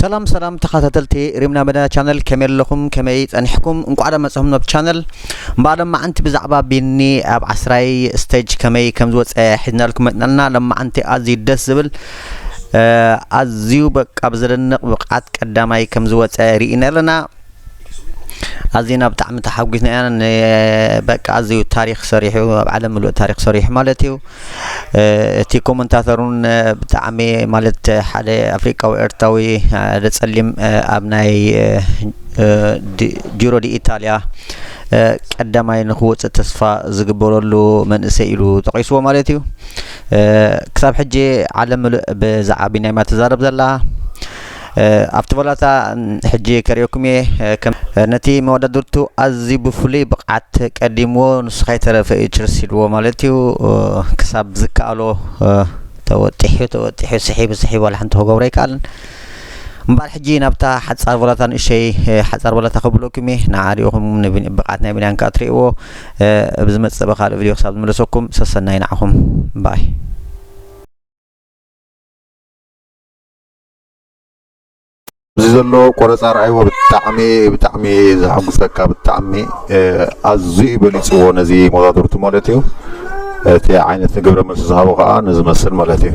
ሰላም ሰላም ተኸታተልቲ ሪምና መድና ቻነል ከመይ ኣለኹም ከመይ ጸኒሕኩም እንቋዕ ዶ መጽኹም ናብ ቻነል እምበኣር ሎማዓንቲ ብዛዕባ ቢኒ ኣብ ዓስራይ ስቴጅ ከመይ ከም ዝወፀ ሒዝናልኩም መጥናልና ሎማዓንቲ ኣዝዩ ደስ ዝብል ኣዝዩ በቃ ብዘደንቕ ብቕዓት ቀዳማይ ከም ዝወፀ ርኢና ኣለና ኣዚና ብጣዕሚ ተሓጒስና ኢና ን በቃ ኣዝዩ ታሪኽ ሰሪሑ ኣብ ዓለም ምሉእ ታሪኽ ሰሪሑ ማለት እዩ እቲ ኮመንታተር እውን ብጣዕሚ ማለት ሓደ ኣፍሪቃዊ ኤርትራዊ ሓደ ጸሊም ኣብ ናይ ጂሮ ዲ ኢታልያ ቀዳማይ ንክወፅእ ተስፋ ዝግበረሉ መንእሰይ ኢሉ ጠቂስዎ ማለት እዩ ክሳብ ሕጂ ዓለም ምሉእ ብዛዕባ ቢንያም እያ ትዛረብ ዘላ ኣብቲ ቦላታ ሕጂ ከርእየኩም እየ ከም ነቲ መወዳድርቱ ኣዝዩ ብፍሉይ ብቕዓት ቀዲምዎ ንሱ ከይተረፈ እዩ ችርስ ኢልዎ ማለት እዩ ክሳብ ዝከኣሎ ተወጢሑ ተወጢሑ ስሒቡ ስሒቡ ዋላ ሓንቲ ክገብሮ ኣይከኣልን እምበኣር ሕጂ ናብታ ሓጻር ቦላታ ንእሸይ ሓጻር ቦላታ ከብለኩም እየ ንዓ ሪኢኹም ብቕዓት ናይ ብንያን ከኣ ትርእይዎ ኣብ ዝመጽእ ብካልእ ቪድዮ ክሳብ ዝምለሰኩም ሰሰናይ ንዓኹም ባይ እዚ ዘሎ ቆረፃ ርኣይዎ ብጣዕሚ ብጣዕሚ ዘሐጉሰካ ብጣዕሚ ኣዝዩ በሊፅዎ ነዚ መጋግብቱ ማለት እዩ እቲ ዓይነት ንግብረ መልሲ ዝሃቦ ከዓ ንዝመስል ማለት እዩ